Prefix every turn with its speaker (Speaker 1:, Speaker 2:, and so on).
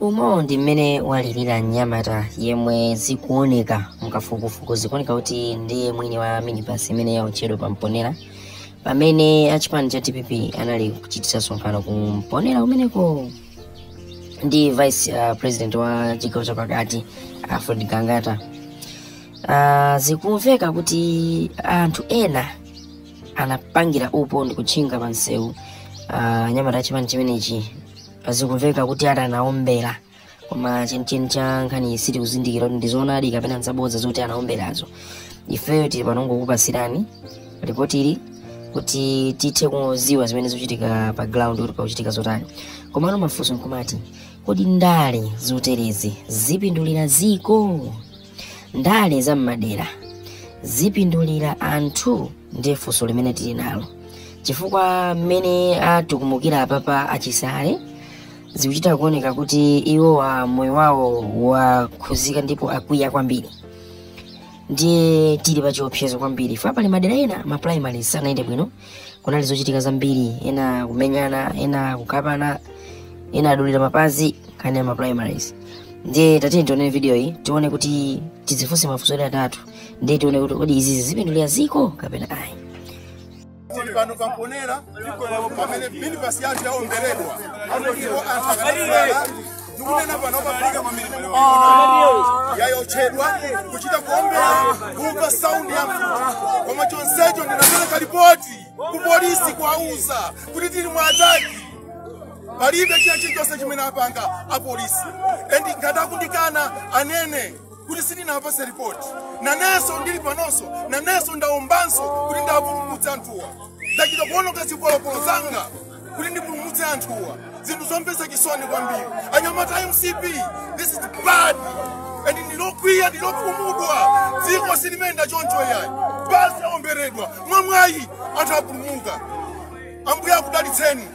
Speaker 1: umo ndi mmene walirira mnyamata yemwe zikuoneka mukafukufuku zikuoneka kuti ndiye mwini wa minibus imene yaotchedwa pa mponera pamene achipani cha dpp anali kuchititsa msonkhano ku mponera kumeneko ndi vice uh, president wa chigawo chapakati alfred gangata uh, zikumveka kuti anthu ena anapangira upo ndi kutchinga pa msewu uh, anyamata achipani chimenechi zikumveka kuti ati anaombera koma chenicheni cha nkhaniyi sitikuzindikira kuti ndizoonadi kapena nzabodza zoti anaomberazo ifeyo tili pano ngokupasirani ripoti ili kuti tithe kuziwa zimene zikuchitika pa ground kuti pakuchitika zotani komano mafunso nkumati kodi ndale zoterezi zipindulira ziko ndale za mmadera zipindulira anthu ndiye funso limene tili nalo chifukwa mmene atukumukira apapa achisale zikuchita kuoneka kuti iwo moyo wawo wakhuzika ndipo akwiya kwambiri ndiye tili pa chiopsezo kwambiri chifukwa pali madera ena ma primary sanayende bwino kunali zochitika zambiri ena kumenyana ena kukapana ena adulira mapazi nkhani ya ma primaries ndiye tatiyeni tione video iyi tione kuti tidzifunse mafunso ena atatu ndiye tione kuti kodi izizi zipindulira ziko kapena ayi
Speaker 2: tili pano pamponera pamene minibasi yathu yaomberedwa ndipo anthu akanakhala ndikunena pano pafika pamene yaotchedwa kuchita kuombera kumva saundi ya mfuti koma chonsecho ndinapereka lipoti ku polisi kuwauza kuti tili mu ataki palibe chilichonse chimene apanga apolisi endi ngati akundikana anene kuti sindinawapatse ripoti nanenso ndili panonso nanenso ndaombanso kuti ndipulumutse anthuwa ndachita kuononga zipolopolo zanga kuti ndipulumutse anthuwa zinthu zomvetsa chisoni kwambiri anyamata a mcp this is bad and ndili wokwiya ndili wokhumudwa dziko silimayenda choncho yayi basi aomberedwa mwamwayi anthu apulumuka ambuye akudalitseni